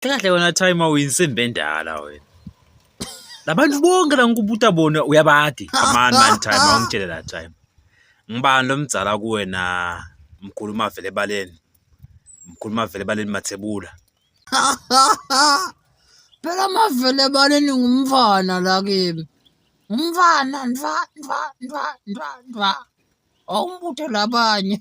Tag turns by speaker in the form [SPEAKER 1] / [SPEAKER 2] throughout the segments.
[SPEAKER 1] Kahle wena Timer uyinsimbi endala wena. Labantu bonke la ngikubuta bona uyabadi. Aman man Timer ungitshele la Timer. Ngibani lomdzala kuwena mkhulu mavele ebaleni. Mkhulu mavele ebaleni mathebula.
[SPEAKER 2] Phela mavele ebaleni ngumfana la kimi. Ngumfana ndwa ndwa ndwa ndwa ndwa. Awumbuthe labanye.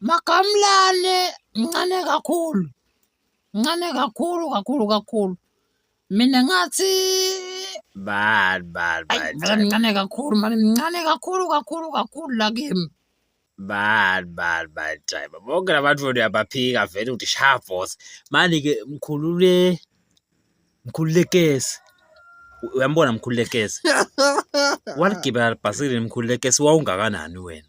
[SPEAKER 2] Makamlane mncane kakhulu, mncane kakhulu kakhulu kakhulu. Mina ngathi
[SPEAKER 1] Bad, bad, ayi bad,
[SPEAKER 2] vele mncane kakhulu mani, mncane kakhulu kakhulu kakhulu la kimi. bad,
[SPEAKER 1] bad, bad driver. Bonke labantu wena uyabaphika vele ukuthi sha boss. Manje ke mkhulule mkhululekesi. U- Uyambona mkhululekesi? Waligibela libhasikili mkhululekesi wawungakanani wena?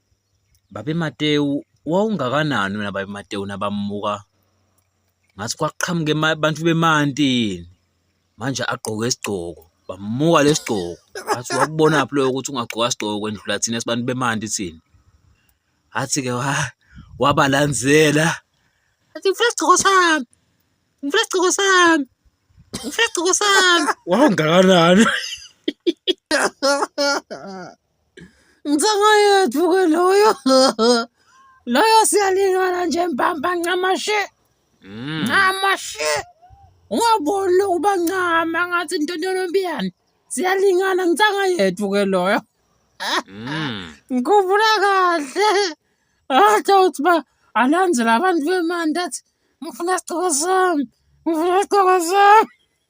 [SPEAKER 1] Babe Matewu wawungakanani wena Babe Matewu nabamuka ngathi kwaqhamuke abantu bemantini manje agqoke isigqoko bamuka lesigqoko ngathi wakubona phi loyo ukuthi ungagqoka isigqoko kwendlula thina sibantu bemanti thina athi ke wa wabalandzela athi ngifuna isigqoko sami ngifuna isigqoko sami ngifuna isigqoko sami wawungakanani
[SPEAKER 2] Ngicanga yethu-ke loyo loyo siyalingana nje mbamba ncamashe mm. ncamashe ungaboni lokuba ncama ngathi into ntonombiyane siyalingana ngicanga yethu-ke loyo mm. ngikhumbula kahle athi awuthi uba alanzela abantu bemandi athi ngifuna isigqoko sami ngifuna isigqoko sami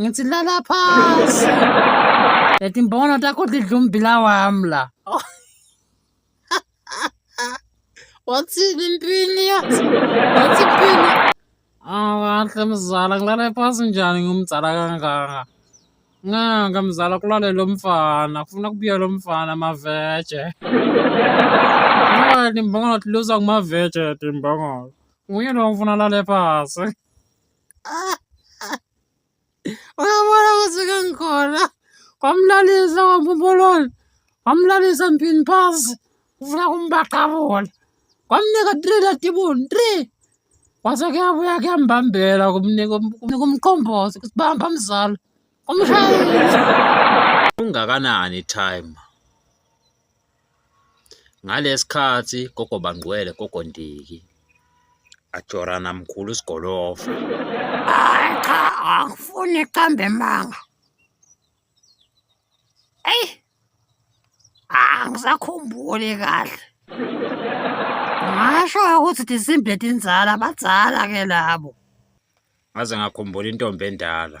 [SPEAKER 2] Ngithi lala phansi. Yathi mbona takho lidla umbila wami la. Wathini impini yathi? Wathi impini. Ah, kahle mzala ngilala phansi njani ngumzala kangaka? Nganga mzala kulale lo mfana, kufuna kubuye lo mfana maveje. Ngani mbongo luza kumaveje timbongo. Nguye lo ngifuna lale phansi. uyabona ukuthi ke ngikhona kwamlalisa kwamphumboloni kwamlalisa mphini phasi ufuna kumbaqabula kwamnika three latibuni three kwase kuyabuya kuyambambela kumnika umqombozi ukuthi bamba mzala umshayeli
[SPEAKER 1] ungakanani time Ngalesikhathi gogo bangqwele gogo Ndiki ajorana mkhulu sigolofa. Hayi
[SPEAKER 2] cha angifuni iqambe emanga. Eyi angisakhumbuli kahle. Ngasho ukuthi disimbe tinzala badzala ke labo. Ngaze
[SPEAKER 1] ngakhumbula intombi endala.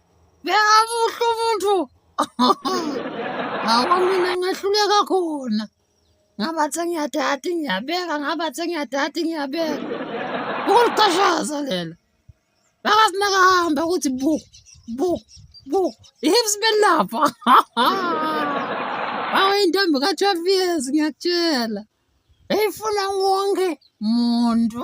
[SPEAKER 2] Bekabuhle umuntu. Hawa mina ngehluleka khona. Ngabathi ngiyadada ngiyabeka ngabathi ngiyadada ngiyabeka. Ukuliqashaza lelo. Bakasinaka hamba ukuthi bu bu bu hips belapha. Hawa intombi ka 12 years ngiyakutshela. Eyifuna wonke muntu.